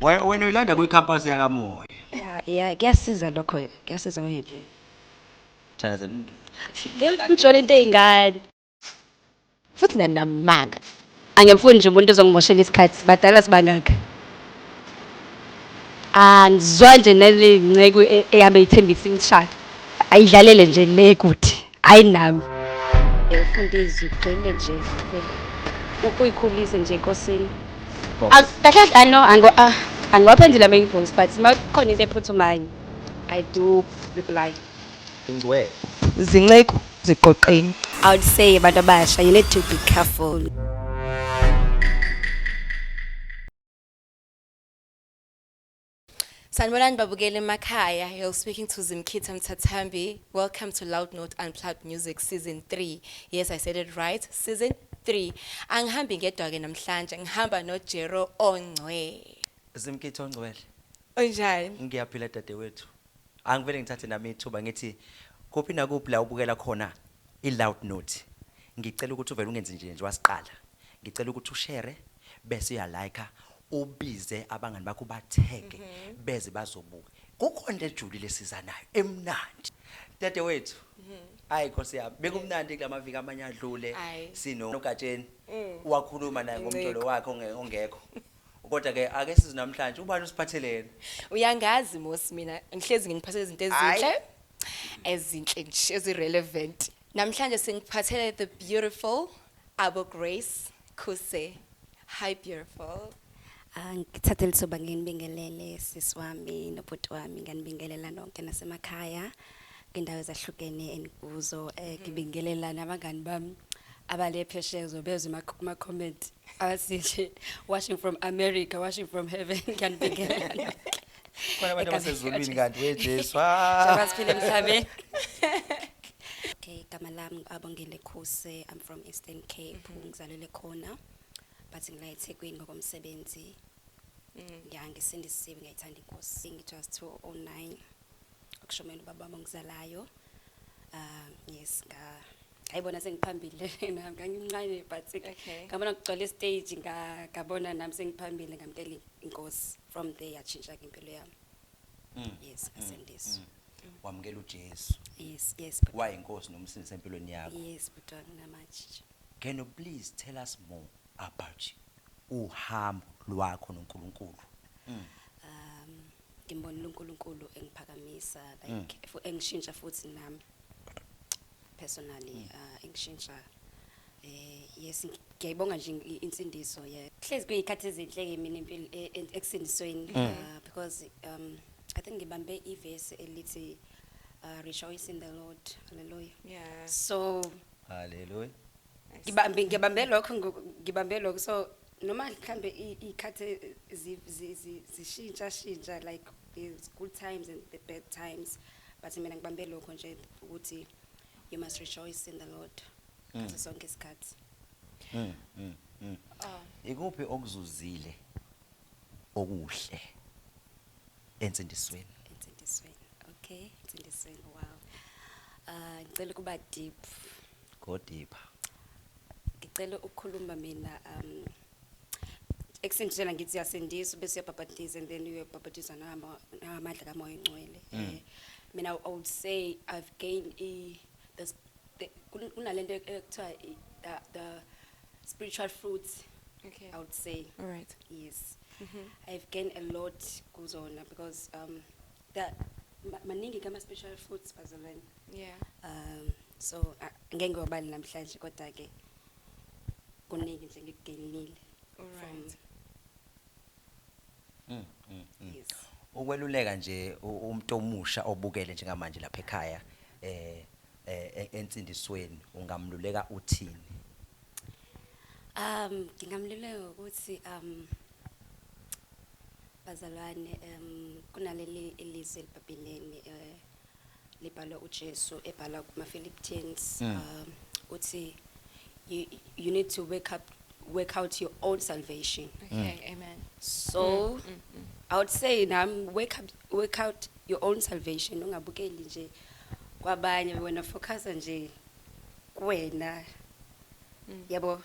Wena uyilanda kwicampus yakamoya. Yeah, yeah, kuyasiza lokho, kuyasiza wena. Chaza. Ngiyakuthola into eyingane. Futhi nanamanga. Angimfuni nje umuntu ozongimoshela isikhathi, sibadala sibangaka. Angizwa nje nale nceku e, eyame ithembisa imishado. Ayidlalele nje le kuthi. hayi nami Mfundisi ugcine nje ukuyikhulisa nje enkosini. Kahle I know angiwaphendula ama invoice but uma kukhona into ephuthumayo I do reply. Ingcwele. Zinceku ziqoqeni. I would say abantu abasha you need to be careful. Sanibonani babukeli emakhaya. You're speaking to Zimkhitha Mthathambi. Welcome to Loud Note Unplugged Music Season 3. Yes, I said it right. Season 3. Angihambi ngedwa ke namhlanje. Ngihamba no Jero Ongcwe. Zimkhitha Ongcwele. Unjani? Ngiyaphila dadewethu. Angivele ngithathe nami ithuba ngithi kuphi nakuphi la ubukela khona i Loud Note. Ngicela ukuthi uvele ungenzi nje nje wasiqala. Ngicela ukuthi ushere bese uya like ubize abangani bakho batheke mhm. beze bazobuka. Kukho into ejulile esizanayo emnandi. Dade wethu. Mhm. Hayi Nkosi yami, bekumnandi kulamaviki amanye adlule sino nogatsheni mm. wakhuluma naye ngomtolo wakhe ongekho. kodwa ke ake sizi namhlanje ubani usiphatheleni uyangazi mosi mina ngihlezi ngingiphathele izinto ezinhle ezinhle nje ezirelevant Namhlanje singiphathele the beautiful Abo Grace Khuse. Hi beautiful. Ah, ngithathe lithuba nginibingelele sisi wami nobhuti wami nganibingelela nonke nasemakhaya kwindawo ezahlukene enikuzo eh ngibingelela nabangani bami abale phesheya zobezwe ma- kuma comment abasinje watching from America watching from heaven ngiyanibingelela nonke. khona abantu Igama abasezulwini likaJesu. kanti wejesu Njengoba siphila emhlabeni. Okay, igama lami abongile Khuse. I'm from Eastern Cape. Ngizalelwe khona. But ngila eThekwini ngokomsebenzi. Ya ngisindisiwe ngiyayithanda inkosi. Ngijust 209. Ukushomela ubaba wami ongizalayo. Ah, yes, nga ayibona sengiphambili lena ngangimncane but Okay. ngabona kugcwele stage nga ngabona nami sengiphambili ngamkela inkosi. from there yatshintsha-ke impilo yami Mm. yes asindiswa wamukela ujesu yes yes but- wayinkosi nomsindisi empilweni yakho yes bhuti wami namanje nje can you please tell us more about you uhambo lwakho nonkulunkulu um ngimbonile unkulunkulu engiphakamisa like fu- engishintsha futhi nami personally mm. uh, engishintsha eh yes ngiyayibonga nje insindiso ye hlezi kuyikhathi ezinhle ke mina impilo e, e, ekusindisweni mm. uh, because um i think ngibambe ivesi elithi uh, rejoice in the lord hallelujah yeah so hallelujah ngibambe ngibambe lokho ngibambe lokho so noma mhlambe ikhathi zishintsha shintsha like the good times and the bad times but mina ngibambe lokho nje ukuthi you must rejoice in the lord mm. ngaso sonke isikhathi mm, mm, mm. Oh. ikuphi okuzuzile okuhle ensindisweni ensindisweni okay ensindisweni wow uh ngicela kuba deep go deeper ngicela ukukhuluma mina um ekusindisela ngithi siyasindiswa bese uyabhabhatiza and then uyabhabhatizwa nangama- nangamadla kamoya ongcwele Eh, mina i would say i've gained i the, s- the, kun- kunalento ekuthiwa i- the, the spiritual fruits Okay. i would say All right. yes i've gained a lot kuzona because um Ka, ma- maningi kama special foods bazalwane. Yeah. Um so ah, ngeke ngiwabali namhlanje kodwa ke kuningi nje ngikugainile. Alright. Mm, mm, mm. Yes. ukweluleka nje u- umuntu omusha obukele njengamanje lapha ekhaya eh eh, e- ensindisweni ungamluleka uthini Um ngingamluleka ngokuthi um bazalwane um kunaleli ilizwi elibhabhileni um eh, libhalwa uJesu ebhala kumaPhilippians mm. um uthi you, you need to wake up work out your own salvation. Okay, mm. amen. So mm, mm, mm. I would say now wake up work out your own salvation ungabukeli nje kwabanye wena focus nje kuwena yabo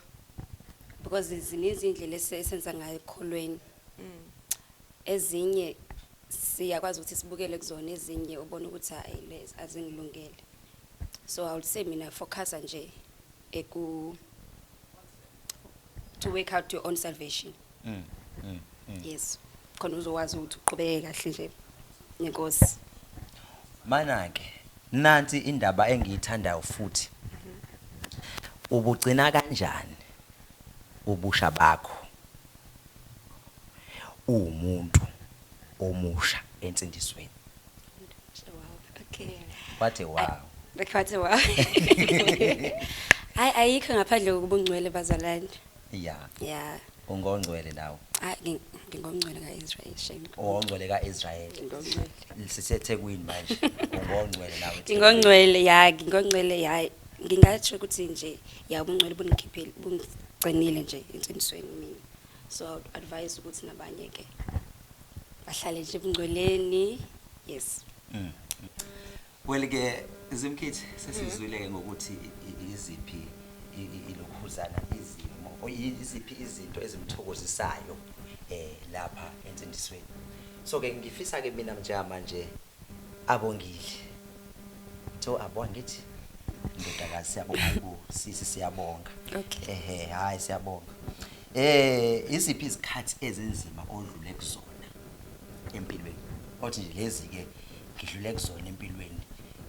because zininzi iy'ndlela ese- esenza ngayo ekukholweni ezinye siyakwazi ukuthi sibukele kuzona ezinye ubone ukuthi hhayi le azingilungele so i would say mina focusa nje eku to work out your own salvation mm, mm, mm. yes khona uzokwazi ukuthi uqhubeke kahle nje nenkosi mana-ke nansi indaba engiyithandayo futhi ubugcina kanjani ubusha bakho uwumuntu omusha ensindisweni okay what a wow what a wow hayi ayikho ngaphandle kokubungcwele bazalwane ya yeah ungongcwele nawe hayi ngi- ngingongcwele ka-israyeli shame ungongcwele ka-israyeli Ngingongcwele. sisethekwini manje ungongcwele nawe ngingongcwele ya ngingongcwele ya ngingatsho ukuthi nje ya ubungcwele bungikhiphile bungigcinile nje ensinisweni mina so I would advise ukuthi nabanye ke bahlale nje ebungcweleni yes Mm. Well ke Zimkhithi sesizwile ke ngokuthi iziphi ilokhuzana izimo iziphi izinto ezimthokozisayo eh lapha entsindisweni so ke ngifisa ke mina manje abongile so abonga ngithi ndodakazi siyabonga ku sisi siyabonga ehe hayi siyabonga eh iziphi izikhathi ezinzima odlule kuzona empilweni othi nje lezi ke ngidlule kuzona empilweni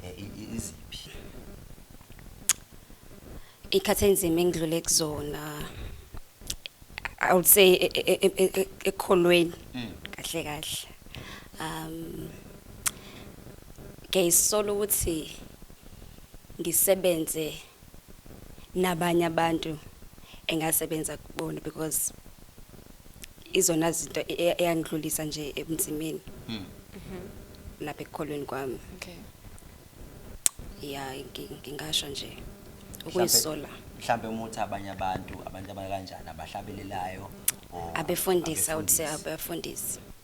eh, i- i- iziphi ikhathi enzima engidlule kuzona i would say e- e- e- e- e- ekholweni kahle kahle um ngiyayisola ukuthi ngisebenze nabanye abantu engasebenza kubona because izona zinto e- e- eyangidlulisa nje ebunzimeni Hmm. lapha ekukholweni kwami Okay. ya ngi- ngingasho nje Mhlampe- ukuyisola mhlampe uma uthi abanye abantu abantu abakanjani abahlabelelayo or abefundisi i would say abefundisi. abefundisi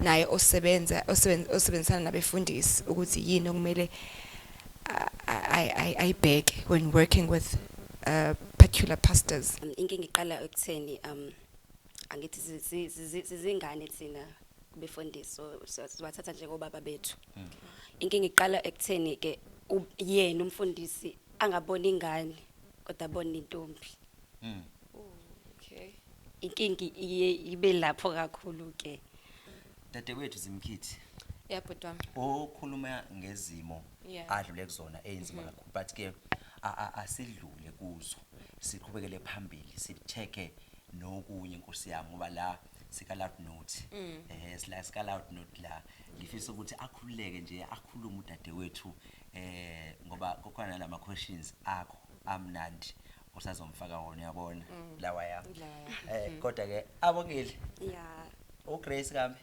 naye osebenza osebenzisana nabefundisi ukuthi yini okumele ayibheke when working with uh, particular pastors um, inkinga iqala ekutheni um angithi sizingane thina befundisi so sibathatha njengobaba bethu hmm. inkinga iqala ekutheni ke yena umfundisi angaboni ingane kodwa abone intombi hmm. okay inkingi iye ibe lapho kakhulu ke dadewethu zimkhithi yeah bhuti wami okhuluma ngezimo Yeah. adlule kuzona eyinzima kakhulu but ke a- a- asidlule kuzo siqhubekele phambili sicheke nokunye inkosi yami ngoba la sika loud note eh sila sika loud note la ngifisa ukuthi akhululeke nje akhulume udadewethu eh ngoba kukhona lama questions akho amnandi usazomfaka wona uyabona mm. lawa yami eh mm. kodwa ke abongile yeah uGrace kami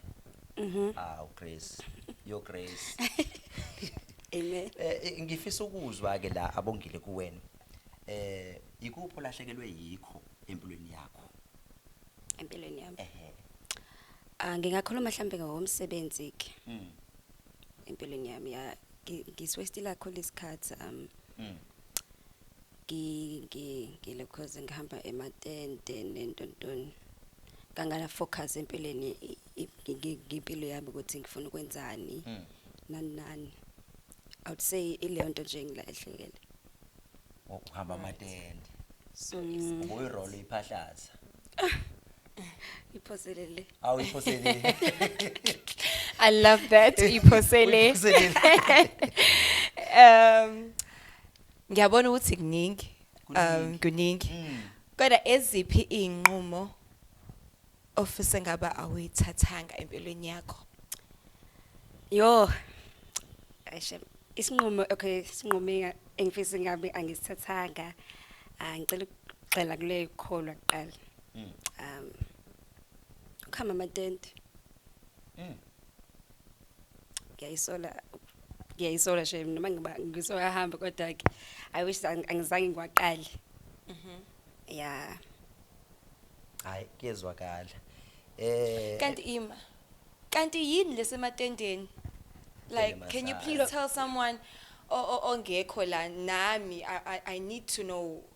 mhm ah uGrace yo Grace amen eh, eh ngifisa ukuzwa ke la abongile kuwena eh ikupho lahlekelwe yikho empilweni yakho empilweni yami ehe ah ngingakhuluma mhlambe ngomsebenzi ke mhm empilweni yami ya ngiswestila khona isikhathi um mhm ngile cause ngihamba ematende nento ntoni kangana focus empilweni ngempilo yami ukuthi ngifuna ukwenzani hmm. nani nani i would say ileyo nto nje ngilahlekele ngokuhamba amatende so hmm. ubuyirole iphahlaza iphoselele awu iphoselele i love that iphoselele um Ngiyabona ukuthi kuningi um kuningi kodwa eziphi izinqumo ofise ngaba awuyithathanga empilweni yakho? Yo. Ayishe isinqumo okay isinqumo engifisa ngabe angisithathanga ah, ngicela ukugxila kule kholwa kuqala. Mm. Um. Ukhama amatende. Mm. ngiyayisola ngiyayisola shem noma ngiba ngisoyahamba kodwa ke i wish ang- angizange ngiwaqale Mhm. ya hayi kuyezwakala eh Kanti ima. Kanti yini lesematendeni? Like Tendeni can you massage. please tell someone o- o- ongekho la nami I, I I need to know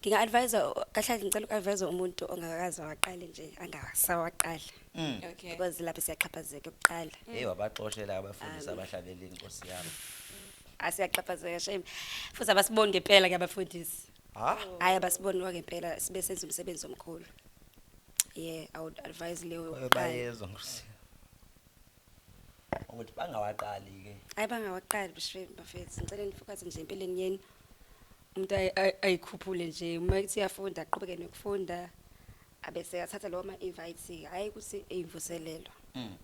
nginga advise kahle ngicela uku-advise umuntu ongakaze waqale nje angasawaqala mm. okay because lapho siyaxhaphazeka ukuqala hey wabaxoshela abafundisi abahlabela inkosi yami asiyaxhaphazeka shame futhi abasiboni ngempela ke abafundisi ha hayi abasiboni ngempela sibe senza umsebenzi omkhulu yeah i would advise leyo bayezwa nkosi ukuthi bangawaqali ke hayi bangawaqali bishwe bafethu ngicela nifokaze nje empilweni yenu umuntu ayikhuphule nje uma ethi uyafunda aqhubeke nokufunda abese athatha lowo ma-invite hhayi ukuthi eyimvuselelo mm.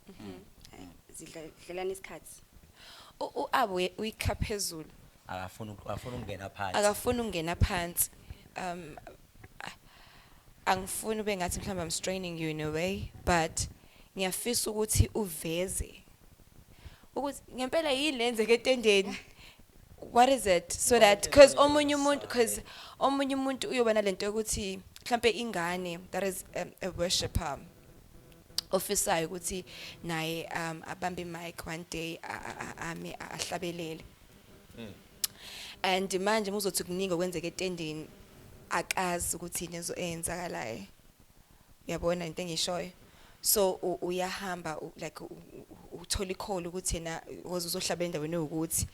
mhm. mm. zidlelana isikhathi u-abo uyikha phezulu akafuni ukungena phansi akafuni ukungena phansi um angifuni ube ngathi mhlawumbe i'm straining you in a way but ngiyafisa ukuthi uveze ukuthi ngempela yini lenzeke etendeni what is it so that because omunye umuntu because omunye umuntu uyoba nalento yokuthi mhlambe ingane that is a, um, a worshipper ofisayo ukuthi naye um abambe mic one day ame ahlabelele hmm. and manje muzothi kuningi okwenzeka etendeni akazi ukuthi nezo eyenzakalayo Uyabona into engishoyo? So u- uyahamba u- like u- u- uthola ikholo ukuthi yena woza uzohlaba endaweni ewukuthi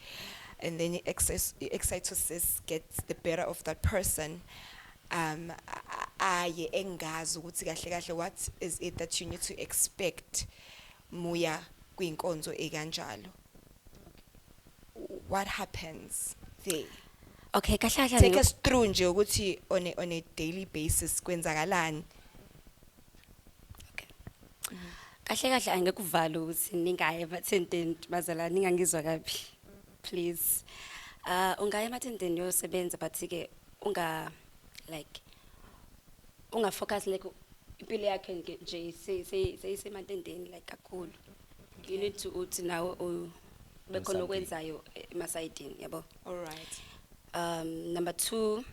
and then i-excess- i-excitosis gets the better of that person um a- a- aye engazi ukuthi kahle kahle what is it that you need to expect muya kwinkonzo ekanjalo what happens there okay kahle kahle take us through nje ukuthi on a, on a daily basis kwenzakalani kahle kahle angekuvala ukuthi ningaye emathenteni bazala ningangizwa kabi please uh ungaya emathenteni yosebenza but ke unga like unga focus like impilo yakhe nje seyisemantendeni like kakhulu you need to uthi nawe u- bekhona Something. okwenzayo emasayidini yabo all right um number two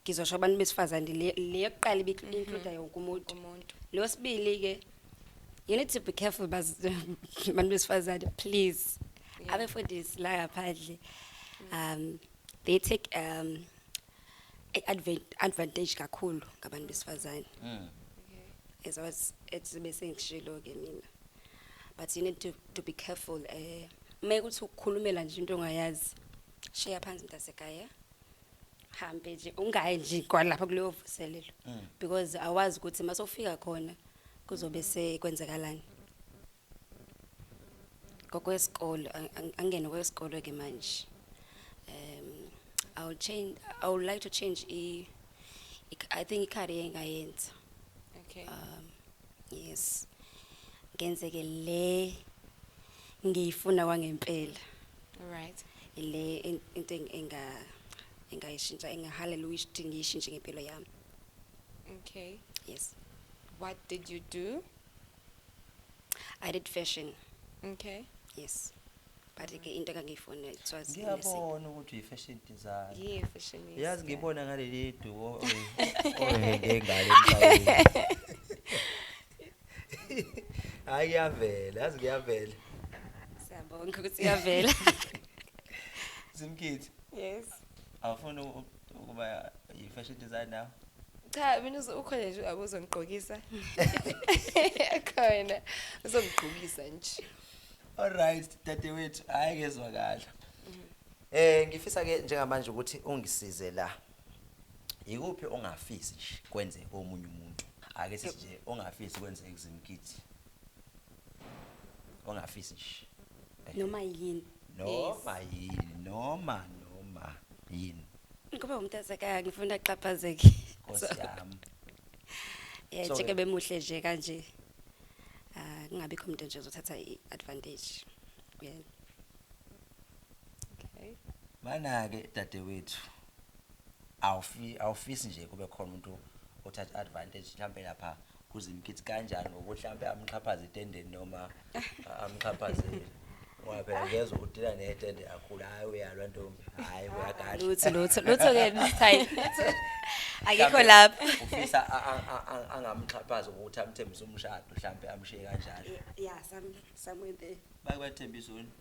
ngizosho abantu besifazane le le yokuqala ibincluda yonke umuntu umuntu lo sibili-ke you need to be careful baz- bantu besifazane please Yeah. abefundisi la ngaphandle um they take um I advan- advantage kakhulu ngabantu besifazane Mm. as I was as bese ngishilo ke mina but you need to to be careful eh uma ukuthi ukukhulumela nje into ongayazi shiya phansi mntasekhaya hambe nje ungayi nje kwalapha kuleyo vuselelo Mm. because awazi ukuthi masofika khona kuzobe sekwenzakalani ngokwesikole angene kwesikole ke manje um i will change i would like to change i i think ikhari engayenza okay um yes ngenze ke le ngiyifuna kwangempela all right ile into enga engayishintsha engahaleluya ukuthi ngiyishintshe ngempilo yami okay yes what did you do I did fashion. Okay. Yes. But ke into engangiyifuna it was nursing. ngiyabona ukuthi uyi-fashion design Yeah, fashion is. yazi ngibona ngaleli duo ohenge ngalo emhlabeni hhayi kuyavela yazi kuyavela Siyabonga ukuthi uyavela. zimkhithi Yes. awufuni u- ukuba yi-fashion designer cha mina ukhona nje abuzongigqokisa khona uzongigqokisa nje alright dadewethu hayi kezwakala mm-hmm. eh ngifisa ke njengamanje ukuthi ungisize la yikuphi ongafisi nje kwenzeke omunye umuntu ake sithi nje ongafisi kwenzeke kuzimkhithi ongafisi nje noma yini noma yini noma noma yini ngoba umuntu asekaya ngifuna axhaphazeke nkosi yami eh So- njeke bemuhle nje kanje ah kungabi khona umuntu nje uzothatha iadvantage kuyena Okay. mana-ke dadewethu awufi- awufisi nje kube khona umuntu othatha advantage mhlawumbe lapha kuzimkithi kanjani ngokuthi mhlampe amxhaphaze itendeni noma amxhaphazele ngoba phela ngezwa ukuthi la netende akhula hayi uyalwa ntombi hayi uyagashi lutho lutho lutho ke mthayi akekho lapha ufisa angamxhaphaza ukuthi amthembise umshado mhlambe amshiye kanjalo yeah some somewhere there bakwethembisa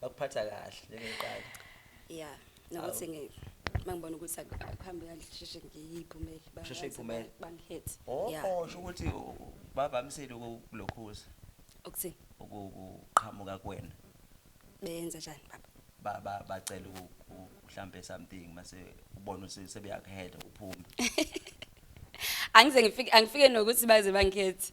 bakuphatha kahle njengeqala ya nokuthi ngi mangibona ukuthi akuhambe kahle sheshe ngiyiphumele Usheshe uyiphumele? bangihethi oh ya oh, sho ukuthi u- u- bavamisile ukulokhuza ukuthini ukuqhamuka kuwena benza njani baba Ba- ba- bacela uku- u- mhlampe something mase ubona ukuthi sebeyakuhela uphume angize ngifike angifike nokuthi baze bangikhethi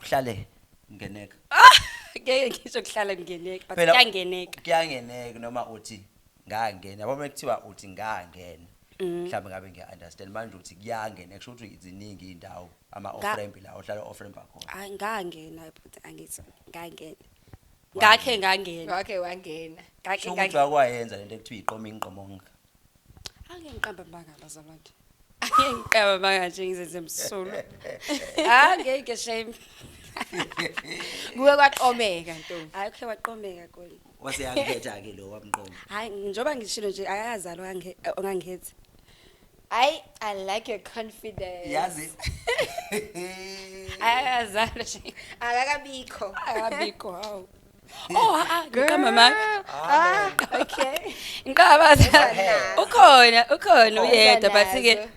kuhlale ngeneka ngeke ngisho kuhlala ngingeneki but Phela- kuyangeneka kuyangeneka noma uthi ngangena yabo mekuthiwa uthi ngangena Mm. mhlawumbe ngabe ngiya-understand manje uthi kuyangena kusho ukuthi ziningi iy'ndawo ama-ofrempi la ohlala ofrempi akhona Ay, ngangena bhuti angithi ngangena ngakhe ngangena ngakhe wangena ngakhe Kusho ukuthi ngangena wakwayenza lento ekuthiwa iqoma ingqomonga Ake ngiqamba amanga bazalwane. Ake ngiqamba amanga nje ngizenze msulu. Ah ngeke shame. Kuwe kwaqomeka ntombi. Hayi khe waqomeka kona. Wase yakhetha ke lo wamqoma. Hayi njoba ngishilo nje akazalwa nge ongangezi. Hayi I like your confidence. Yazi. Akazalwa nje. Akakabikho. Akabikho hawu. Oh ha ah, ngiqamba manje. Ah, okay. Ngiqaba ukhona ukhona uyedwa but ke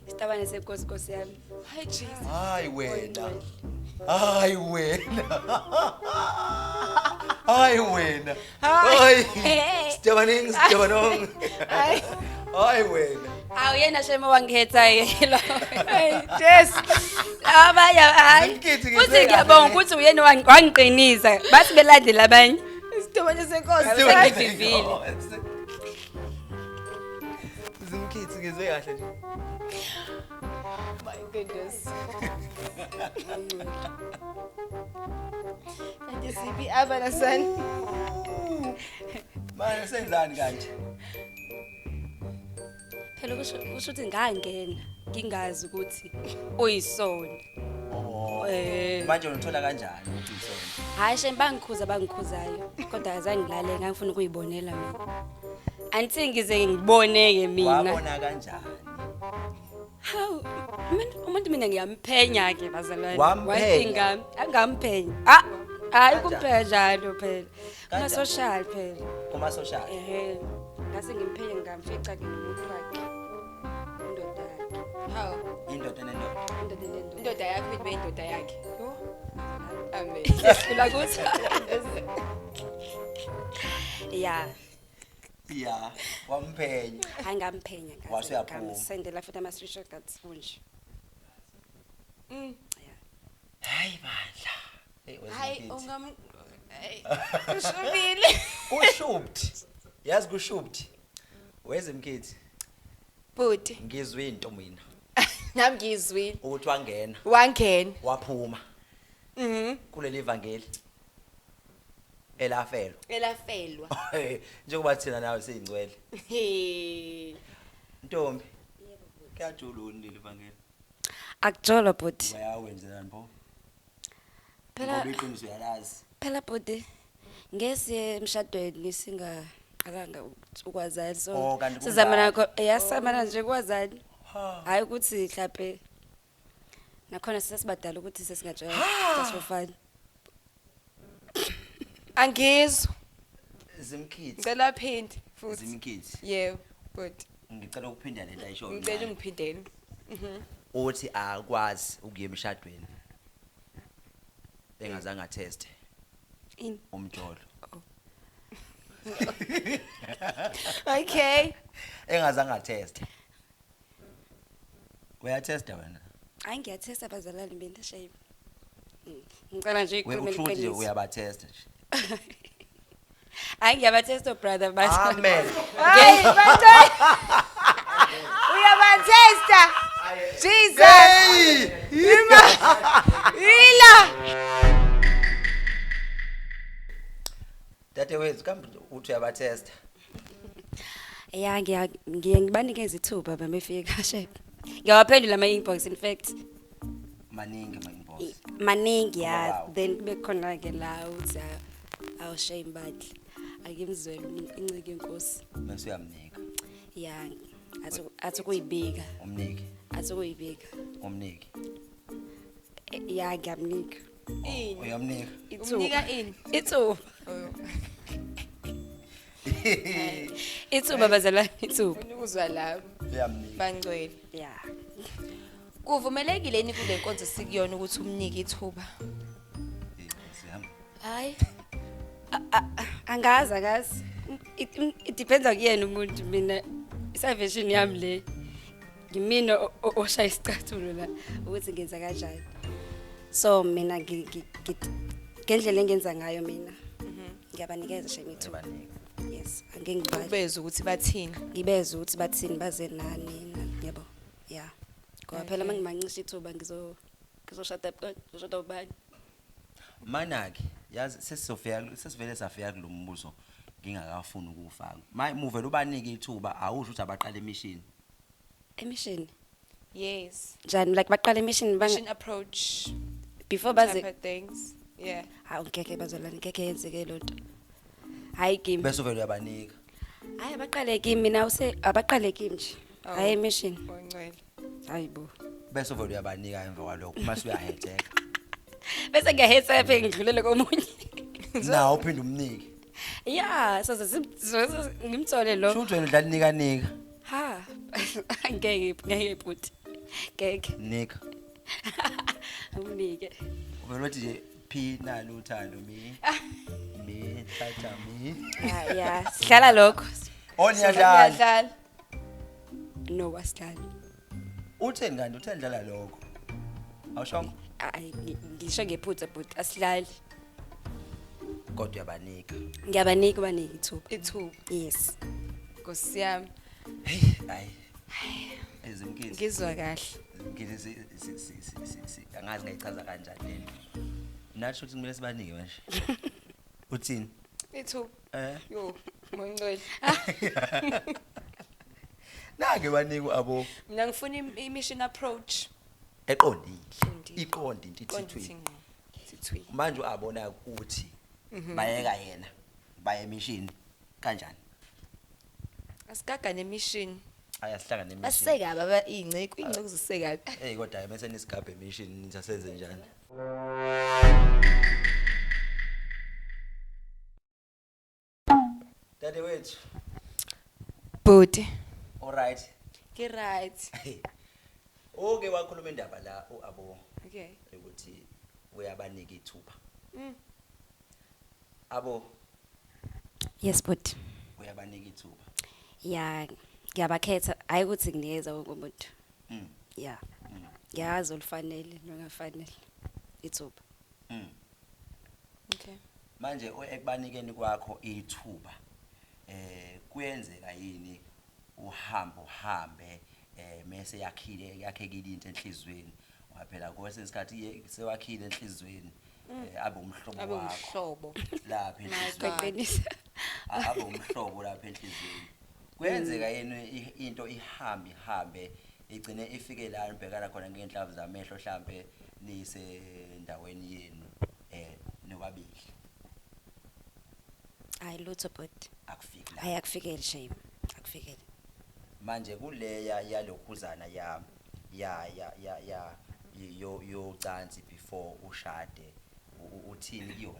isitabane senkosi nkosi yami. Hayi Jesus. Hayi wena. Hayi wena. Hayi wena. Hoy! Hey. Sijabaning, sijabanong. Ay. Hoy wena. Awu yena shema wangikhetha yelo. Ay, Jess. Abanye hayi. Angikhethi ngibe Futhi ngiyabonga kahle. ukuthi uyena wangi- wangiqinisa. Bathi belandela abanye. Isitobane senkosi. Sijabaning. Sengivivile. Zimkhithi ngizwe kahle nje. My goodness. Kanti siphi aba na son? Manje senzani kanje? Phela kusho kusho ukuthi ngangena ngingazi ukuthi uyisona. Eh. manje unithola kanjani ukuthi isona hhayi shame bangikhuza bangikhuzayo kodwa azange ngilale ngangifuna ukuyibonela mina anti ngize ngibone-ke mina wabona kanjani hawu umuntu- umuntu mina ngiyamphenya-ke bazalwane Wamphenya? Wathi ngam- angamphenya Ah, hhayi kumphenya njalo phela Kuma social phela. Kuma social. Ehhe. Ngase ngimphele ngamfica ke nomuntu wakhe. Indoda yakhe. Hawu. Indoda nendoda. Indoda nendoda. Indoda yakhe ibe indoda yakhe. Yo. Amen. Sicela ukuthi. Yeah. Yeah. Wamphenya. Hayi ngamphenya ngathi. Wase yaphuma. Ngamsendela futhi ama screenshots kunje. Mm. hayi bandla Hey, where's my hayi kid? ungam hayi, ushubile kushubthi yazi kushubthi weze mkhithi bhuti ngizwe into mina nami ngiyizwile ukuthi wangena wangena waphuma mhm kuleli vangeli elafelwa elafelwa njengoba thina nawe siyingcwele He. ntombi kuyajula ulile vangeli Akujolo bhuti. Bayawenzelani pho? Phela Ngoba iqiniso uyalazi. phela bhuti ngesiye emshadweni singaqalanga uku- ukwazana so Oh, kanti kunjalo. sizama nakho yasamana nje kwazani. Ha. Hayi ukuthi mhlawumbe nakhona sesibadala ukuthi sesingajwayela just for fun. Angizwa. Zimkhithi. Ngicela phindi futhi. Zimkhithi. Yebo, good. Ngicela ukuphinda lento ayisho. Ngicela ungiphindele. Mhm. Uthi akwazi ukuya emshadweni. Engazange ateste. In. Umjolo. Oh. Okay. Engazange ateste. uyathesta wena hayi ngiyathesta abazalwane benda shame Mm, ngicela nje We- ikhulume usho ukuthi nje liqiniso uyabathesta nje hayi ngiyabathesta brother but amen Hayi, Bantwana. Uyabathesta. Jesus. Hey! Ima. Ila. Dadewethu kambe uthi uyabathesta. Ya ngiya ngiye ngibanikeza ithuba bamefike kashe. Ngiyawaphendula ama inbox in fact. Maningi ama inbox. Maningi ya Wow. then kube khona ke la uthi awu shame badli. Akimzwele umuntu incike inkosi. Bese uyamnika. Ya athi athi kuyibika. Umnike, Athi kuyibika. umnike. Ya ngiyamnika. Ini. Uyamnika. Umnika ini? Ithuba. Ithuba bazalwane ithuba. Ufuna ukuzwa lapho. Uyamnika. Bangcwele. Yeah. Kuvumelekile yini kule nkonzo sikuyona ukuthi umnike ithuba? Eh, Sihamba. Hayi. Angazi akazi. It, it depends on kuyena umuntu mina i salvation yami le. ngimina o- o- oshaya isicathulo la ukuthi ngenza kanjani so mina ngi- ngi- ngi- ngendlela engenza ngayo mina ngiyabanikeza shem ithuba yes angeke ngibale ubeze ukuthi bathini ngibeze ukuthi bathini baze nani nani, yabo ya ngoba phela uma ngimancisha ithuba ngizo- ngizoshada b- ngizoshada ubani manake yazi sesizofika kul- sesivele safika kulo mbuzo ngingakafuni ukuwufaka ma muvele ubanike ithuba awusho ukuthi abaqale imishini Emission. Yes. Njani like baqala emission bang Mission approach before type baze of things. Yeah. hawu ngeke bazolani ngeke yenzeke lonto. Hayi kimi. bese uvele uyabanika Hayi abaqale kimi mina use abaqale kimi nje. Oh. Hayi emission. Ongcwele. Hayi bo. bese uvele uyabanika emva kwalokho uma suyahetheka Bese ngiyahesa phe ngidlulele komunye. nawo uphinde umnike Yeah, so ngimthole lo. shuthi wena udlala inikanika Ha, ngeke ngeke bhuti. Ngeke. Nika. Unike. Uvela uthi nje phi nalo uthando mi. Mi thatha mi. Ya, ya. Sidlala lokho. Oh niyadlala. Siyadlala. No, wasidlala. Utheni kanti utheni dlala lokho? Awushongo? Ay, ngi- ngisho ngephutha bhuti asidlali. kodwa uyabanika ngiyabanika ubanika ithuba ithuba yes nkosi yami hey hayi ezimkhithi ngizwa kahle ngizwe angazi ngayichaza kanjani lento nathi ukuthi kumele sibanike manje uthini ithuba eh yo moncwele nake banika abo mina ngifuna i-mission approach eqondile Qondile. iqonde into Qonde ithithwe ithi ngqo. Ithi thwi. manje uabona ukuthi Mhm. bayeka yena baye emishini kanjani Asigaga nemishini. ayasihlangana emishini Baseka baba inceku, inceku ziseka. hey kodwa bese nisigabhe emishini nithi asenze njani Dade wethu. Bhuti. All right. Ke right. Oke wakhuluma indaba la uAbo. Okay. Ukuthi uyabanika ithuba. Mm. Abo. Yes bhuti. Uyabanika ithuba. Yeah, ngiyabakhetha. Hayi ukuthi ngiyeza wonke umuntu. Mm. Yeah. Mm. Ngiyazi olufanele nongafanele. Ithuba. Mm. Okay. Manje ekubanikeni kwakho ithuba eh kuyenzeka yini uhambo hambe eh mase yakhile yakhekile into enhlizweni ngoba phela kwesinye isikhathi sewakhile enhlizweni mm. eh, abe umhlobo wakho abe umhlobo lapha enhlizweni abe umhlobo lapha enhlizweni kwenzeka mm. yini into ihambe ihambe igcine ifike la nibhekana khona ngey'nhlavu zamehlo hlampe nisendaweni yenu um nobabili hayi lutho bhuti akufiki la hayi akufikeli shame akufikeli manje kuleya yalokhuzana ya ya ya ya ya yo yocansi before ushade u- u- uthini kuyona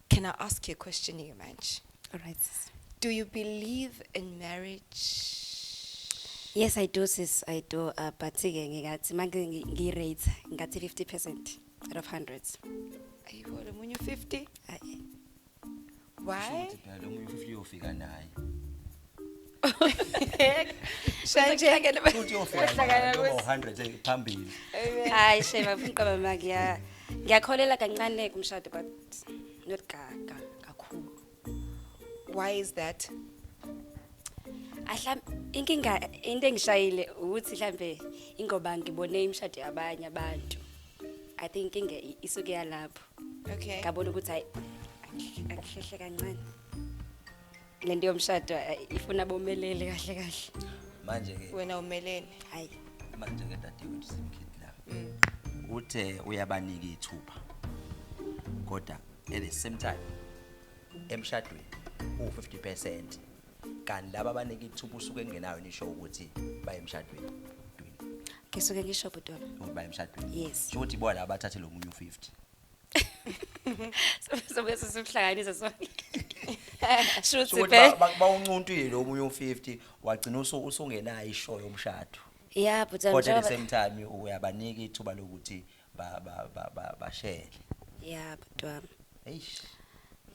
Can I ask you a question here manje? Alright sis. Do you believe in marriage? Yes I do sis, I do uh, but ke ngikathi manje ngi- ngi-rate ngathi 50% out of 100. Ayibo lo munye 50. Ayi. Why? Phela omunye ufifty uyofika naye. Shayekele futhi yofika Wehlakala noma kwesi- 100 eh, phambili Hayi shema mqaba maki ya. Ngiyakholela kancane kumshado but not gaga kakhulu. Why is that? Ahla inkinga into engishayile ukuthi mhlambe ingoba ngibone imshado yabanye abantu. I think inkinga i- isuke yalapho. Okay. Ngabona ukuthi hayi angihlehle kancane. le nto yomshado eh, ifuna bomelele kahle kahle manje ke wena umeleni hayi manje ke dadewethu simkhithi la uthe uyabanika ithuba kodwa at the same time emshadweni uwu-50 percent kanti laba abanika ithuba usuke engenayo nisho ukuthi baye emshadweni ngisuke ngisho bhuti wami ukuthi baye emshadweni Yes. sho ukuthi bona abathathe lo munye u-50 sobe sisuhlanganise sonke shuthi Sokuthi be ba- ba- bawuncuntile omunye u50 wagcina usu- usungenayo ishow yomshado. yeah but um, Kodwa at the njengoba- same time uyabanika ithuba lokuthi ba ba ba ba- bashele. yeah but um, Eish.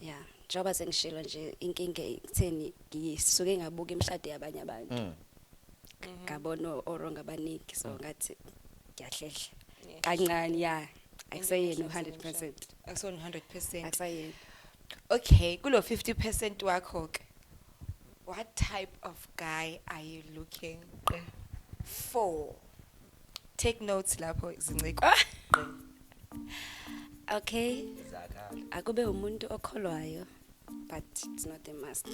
yeah njengoba sengishilo nje inkinga ekutheni ngisuke ngabuka imishado yabanye abantu Mm. ngabona orong abaningi so ngathi ngiyahlehla Yeah. kancane ya akuseyena u-hundred percent akusona 100 percent akusayena okay kulo 50 percent wakho ke what type of guy are you looking for take notes lapho zinciko okay akube umuntu okholwayo but it's not a must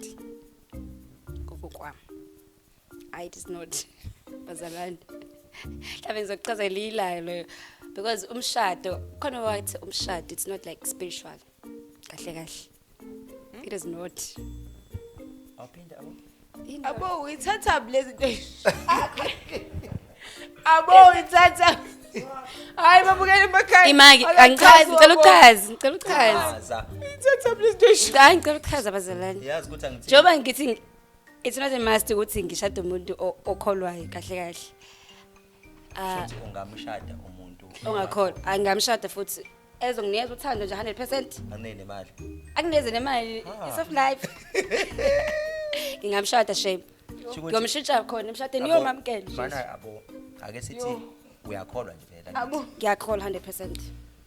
kokokwami I it is not bazalwane mhlawumbe ngizokuchaza liyilayo leyo because umshado khona wathi umshado it's not like spiritual kahle kahle it is not awuphinde abo abo uyithatha lezi nto abo uyithatha hayi babukele emakhaya imaki angichazi ngicela uchazi ngicela uchazi uyithatha lezi nto hayi ngicela uchaza bazalwane yazi ukuthi angithini njengoba ngithi It's not a must ukuthi ngishade umuntu o- okholwayo kahle kahle. Ah, Shothi ungamshada umuntu ongakholwa. Angamshada futhi ezonginikeza uthando nje 100%. anele nemali. Akuneze nemali Ah. is of life. Ngingamshada shame. Shukuthi- Ngiyomshintsha khona emshadeni Abo- uyomamkela. nje. Mana abo ake sithi uyakholwa nje vele. Abu. Ngiyakholwa 100%.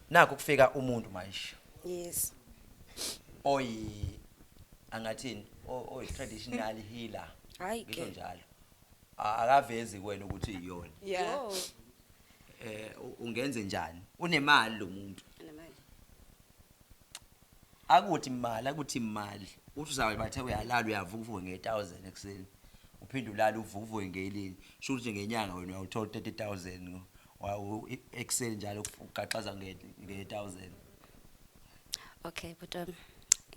Naku kufika umuntu manje. Yes. oyi angathini o- oyi traditional healer Hayi ngisho ke. njalo A- akavezi kuwena ukuthi iyona Yeah. Yo, eh u- ungenze njani unemali lo muntu anemali. akuthi imali akuthi imali uthi uzabe bathe uyalala uyavuka uvuke nge-1000 ekuseni uphinde ulala uvuke uvuke ngelini sho ukuthi ngenyanga wena uyawuthola u-30000 Wow, ekuseni njalo ugaxaza nge nge 1000. Okay bhuti wami.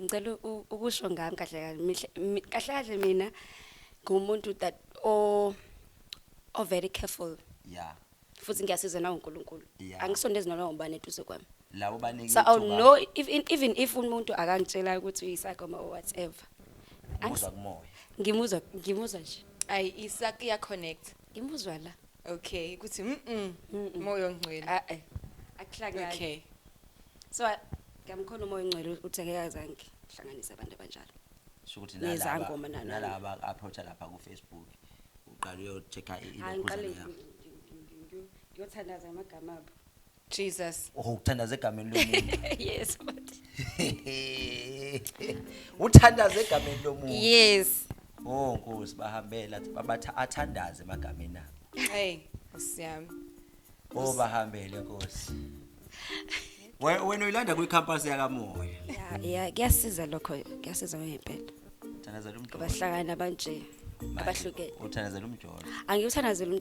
Ngicela u- ukusho ngami kahle kahle mihle- mi- kahle kahle mina ngumuntu that o o very careful Yeah. futhi ngiyasiza nawo uNkulunkulu. Yeah. Angisondezi noma ngubani eduze kwami. Labo baningi. So I'll ithuba know if, in- even if umuntu akangitshela ukuthi uyisakoma or whatever. Angis- Umuzwa kumoya. Ngimuzwa ngimuzwa nje. Ayi isaki ya connect. Ngimuzwa la. okay ukuthi mm Mm-mm. moyo ngcwele Ah, eh. akuhlangani okay so a- ngamkhona umoya ongcwele ukuthi angeke azange hlanganise abantu abanjalo Sho ukuthi Nezangoma nalaba- nalaba. nalaba aba-approacha lapha kufacebook uqale uyochecka i- Hayi, ngiqale ilokhuzana yabo ngi- ngi- ngi- ngi- ngiyothandaza ngamagama abo Jesus. Oh uthandaza egameni lomuntu. yes but. uthandaza egameni lomuntu. Yes. Oh Nkosi bahambela babatha athandaze emagameni abo. Hey, usiyami. Oh bahambele Nkosi. Wena uyilanda kwi campus yakamoya. Yeah, yeah, kuyasiza lokho, kuyasiza ngempela. Uthandaza lo mjolo. Abahlangana banje abahlukene. Uthandaza lo mjolo. Angiyuthandaza lo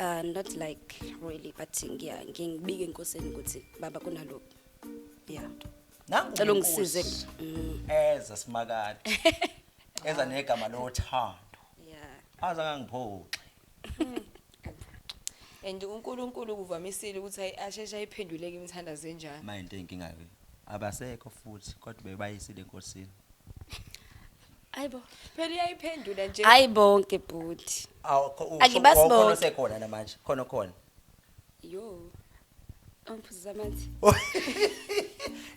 Uh, not like really but ngiya ngibike enkosini ukuthi baba kunalokho yeah nangu cela ungisize mm. eza simakade eza negama lothando yeah aza ngangiphoxe and uNkulunkulu kuvamisile ukuthi ayashesha ayiphenduleke imithandazo enjalo manje inkinga ke abasekho futhi kodwa bebayisile enkosini Ayibo. Phela uyayiphendula nje. Hayi bonke bhuti. Awu, kho- usho- Angibazi wawukhona bonke. osekhona namanje khona khona Yo. Angiphuza amanzi.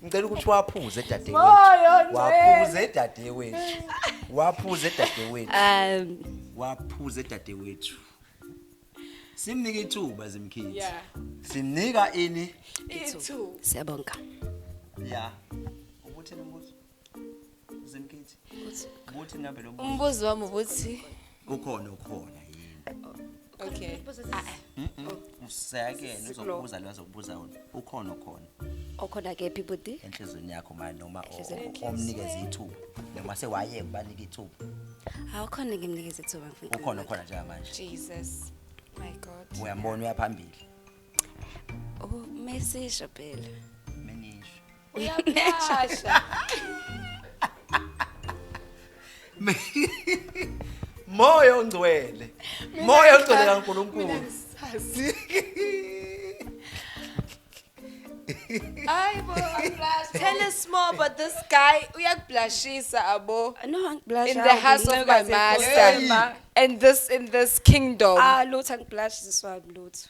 ngicela ukuthi waphuze dadewethu Moyo ngcwele. waphuze dadewethu waphuze dadewethu Um waphuze dadewethu simnika ithuba zimkhithi Yeah. simnika ini Ithu. siyabonga. ya ukuthi nombuzo Zemkethi. Ukuthi ngabe lo Umbuzo wami ukuthi ukhona ukhona yini? Okay. Usakene uzokubuza lo azokubuza wona. Ukhona ukhona. Okhona kephi budi? Enhlizweni yakho manje noma omnikeza ithuba. Noma sewaye ubanika ithuba. Awukhona ngimnikeza ithuba mfowethu. Ukhona ukhona njengamanje. Jesus. My God. Uyambona uyaphambili. Oh, mesisho phela. Menisho. uyaphasha moya ongcwele moya ongcwele kaNkulunkulu Ay bo, tell us more about this guy. Uyakublushisa abo. No, angiblush. In the house of my master. And this in this kingdom. Ah, lutho angiblush ziswa lutho.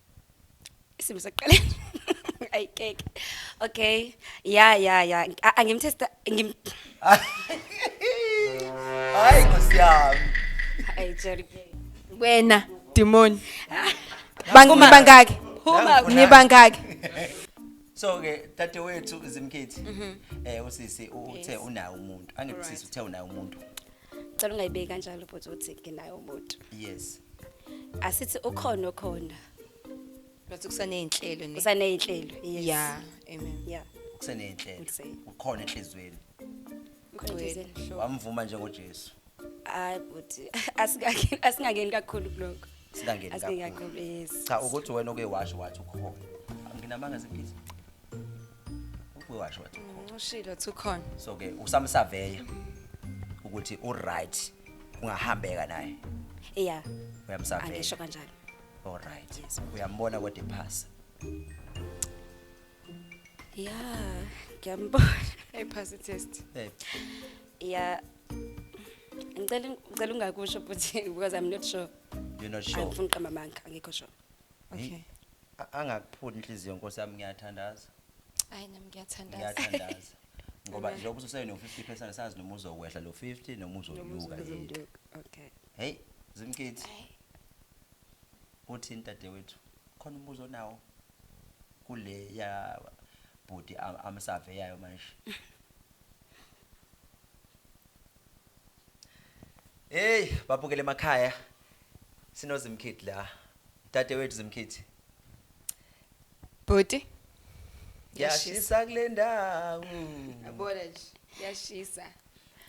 isimo saqala ay keke okay ya ya ya A- angimtesta ngim hayi nkosi yami ay jerry wena demon Bang- nibangaki Phuma. nibangaki so ke tate wethu zimkhithi eh usisi uthe unayo umuntu angikusisi uthe unayo umuntu cela ungayibeki kanjalo bhuti uthi nginaye umuntu yes asithi ukhona okhona bathi kusaney'nhlelo ne- kusaney'nhlelo yes ya amen yeah kuseney'nhlelo Kusene. ukhona enhliziyweni Ngicela Ngcwele, izeni. mhlobo. wamvuma njengojesu hayi bhuti asingake- asingangeni kakhulu kuloko singangeni asingeni kakhulu kakhulu yes cha ukuthi wena oke washo wathi ukhona nginamanga zibhizi ubuye washo wathi ukhona ushilo ukuthi ukhona so ke usamsaveya ukuthi uright kungahambeka naye yeah uyamsaveya angisho kanjalo all right yes. uyambona kodwa ephasa yeah ngiyambona ephasa test hey. yeah ngicela ngicela ungakusho futhi because i'm not sure you're not sure angifuni qamba manga angikho sure okay A- angakuphuli inhliziyo nkosi yami ngiyathandaza Hayi nami ngiyathandaza. ngiyathandaza ngoba njengoba ususe no-50 percent sazi noma uzokwehla lo 50 noma uzonyuka yini Okay. heyi zimkhithi uthini dadewethu khona umbuzo onawo kule ya bhuti am- amsaveyayo manje Hey, babukele emakhaya. Sinozimkhithi la. Dade wethu Zimkhithi. Bhuti. Yashisa kule ndawo. Yabona nje. Yashisa.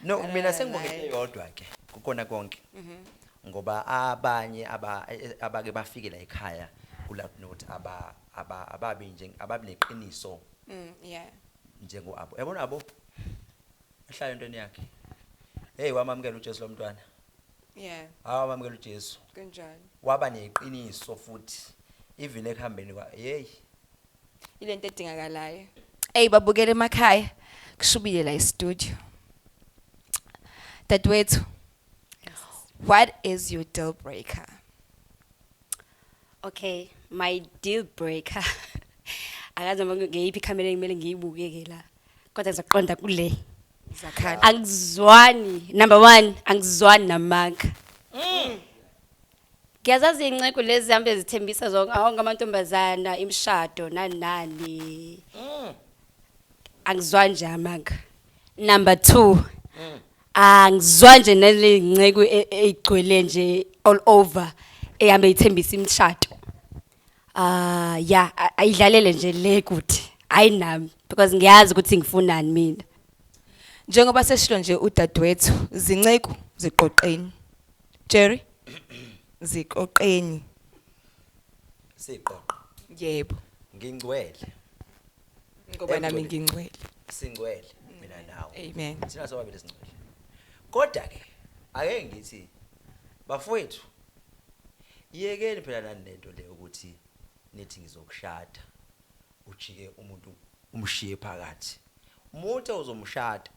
No, mina sengibongele yodwa ke. Kukona konke. Mhm. Ngoba abanye aba e, e, abake bafike la ekhaya kula note aba aba ababi nje ababineqiniso. Mm, yeah. Njengo abo. Yabona abo? Ahlale entweni yakhe. Hey wamamkela uJesu lo mntwana. Yeah. Hawu wamamkela uJesu. Kanjani? Waba neqiniso futhi even ekuhambeni kwa hey. Ile nto edingakalayo. Ey babukele emakhaya kushubile la e-studio. Dadwethu. What is your deal breaker? Okay, my deal breaker. Akaze ngiyiphi camera engimele ngiyibuke ke la. kodwa ngizoqonda kule zakhala angizwani number one angizwani namanga ngiyazazi iy'nceku lezi zihambe zithembisa zonke awonke amantombazana imishado nani nani angizwani nje amanga number two angizwa nje nale nceku e- eyigcwele nje all over ehambe ithembisa imishado Ah ya a- ayidlalele nje le kuthi hayi nami because ngiyazi ukuthi ngifunani mina. Njengoba seshilo nje udadewethu zinceku ziqoqeni. Jerry ziqoqeni. siqoqo Yebo. ngingcwele Ngoba nami ngingcwele. singcwele mina nawe Amen. thina sobabili singcwele kodwa ke ake ngithi bafowethu Yekeni phela nani lento le ukuthi nithi ngizokushada ujike umuntu umshiye phakathi. Umuntu ozomshada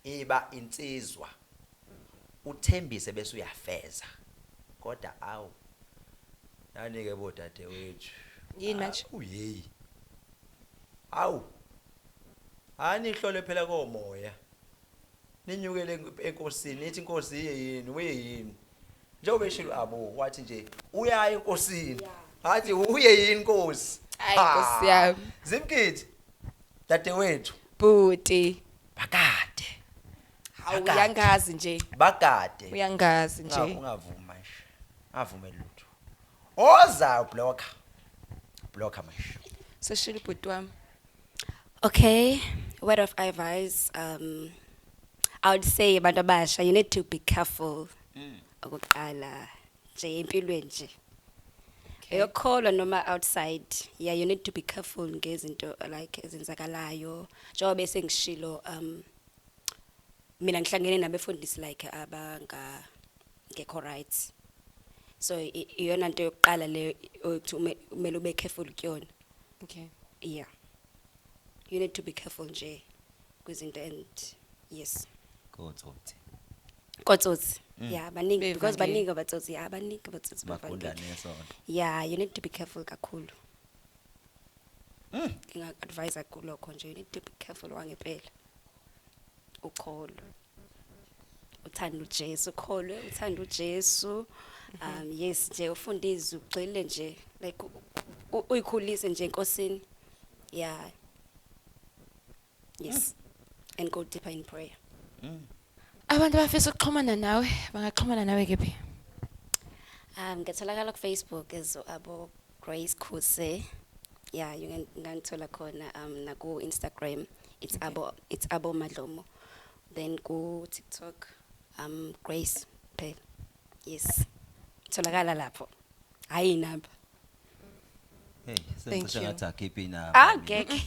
iba insizwa uthembise bese uyafeza. Kodwa awu nani ke bodade wethu. Yini manje? Ah, uyeyi. Awu. Ani hlole phela komoya. ninyukele enkosini nithi inkosi iye yini uye yini njengoba eshilo abo wathi nje uyaye enkosini ngathi uye yini inkosi Hayi, Ha. Nkosi yami. zimkhithi dadewethu bhuti bakade hawu Akade. uyangazi nje bakade uyangazi Unga- nje ungavumi manje avume lutho oza blocker blocker manje seshilo ubhuti wami Okay, word of advice. Um, I would say abantu abasha, you need to be careful. Okokuqala nje empilweni nje. Eyokholwa noma outside. Yeah, you need to be careful ngezinto like ezenzakalayo. Njengoba bese ngishilo um mina ngihlangene nabefundisi like abanga ngekho right. So i- iyona nto yokuqala leyo ukuthi ume- kumele ube careful kuyona. okay yeah you need to be careful nje kwizinto and yes kotsotsi kotsotsi mm. yeah baningi because baningi abatsotsi yeah baningi abatsotsi bavangeli yeah you need to be careful kakhulu mm. nginga-advisa kulokho nje you need to be careful wangempela ukholo uthanda uJesu ukholwe uthanda uJesu um yes nje ufunda izwi ugxile nje like uyikhulise nje enkosini yeah yes and go deeper in prayer mm. abantu abafisa ukuxhumana nawe bangaxhumana nawe kephi um ngetholakala kufacebook as abo grace khuse Yeah, you can ngangithola khona um naku Instagram. It's okay. abo it's abo Madlomo. Then ku TikTok um Grace Pay. Yes. Tholakala lapho. Hayi inamba. Hey, sengisho ngathi akhiphe inamba. Ah, ngeke.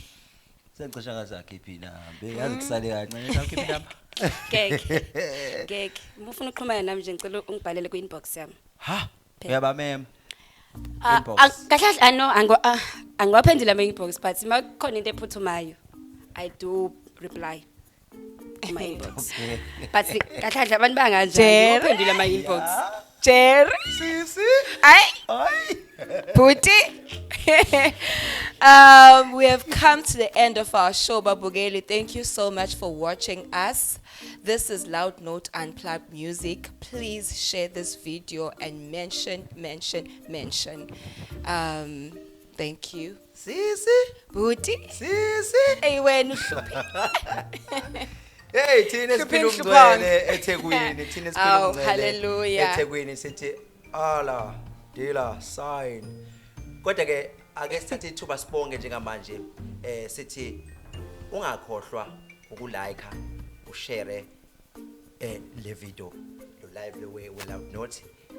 Sengisho ngathi akhiphe inamba. Yazi kusale kancane akhiphe inamba. Ngeke. Ngeke. Mufuna uxhumana nami nje ngicela ungibhalele ku inbox yami. Ha? Phela. uyabamema Ah, Inbox. ah, kahle kahle ah, no ango ah, angiwaphendula ama inbox but uma kukhona into ephuthumayo i do reply ama inbox but kahle kahle abantu banganjani Jerry. uphendula ama inbox Jerry. sisi Ay, ay bhuti. um, we have come to the end of our show, Babugeli. Thank you so much for watching us. This is Loud Note Unplugged Music. Please share this video and mention, mention, mention. Um, thank you. Sisi, Booty. sisi. Hey, wena uhluphe. Hey thina Hlupheni, siphila hluphani. umngcele eThekwini, thina siphila Awu, umngcele hallelujah. eThekwini sithi ala dila sign. Kodwa ke ake sithathe ithuba sibonge njengamanje eh sithi ungakhohlwa ukulike ushare eh le video lo live le we will out not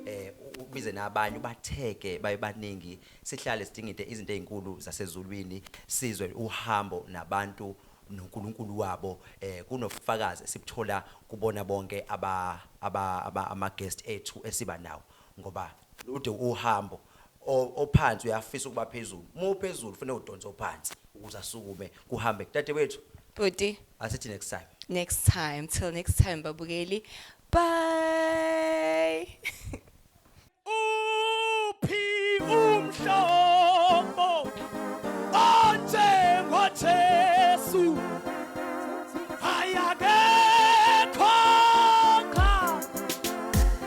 eh u- ubize nabanye ubatheke baye baningi sihlale sidinga into izinto ezinkulu zasezulwini sizwe uhambo nabantu noNkulunkulu wabo eh kunofakazi esibuthola kubona bonke aba aba aba- ama guest ethu esiba nawo ngoba lude uhambo o, ophansi uyafisa ukuba phezulu uma uphezulu kufanele udonse ophansi ukuze asukume kuhambe dadewethu Bhuti, asithi next time next time. Till next time, babukeli. Bye. uphi umhlobo onjengojesu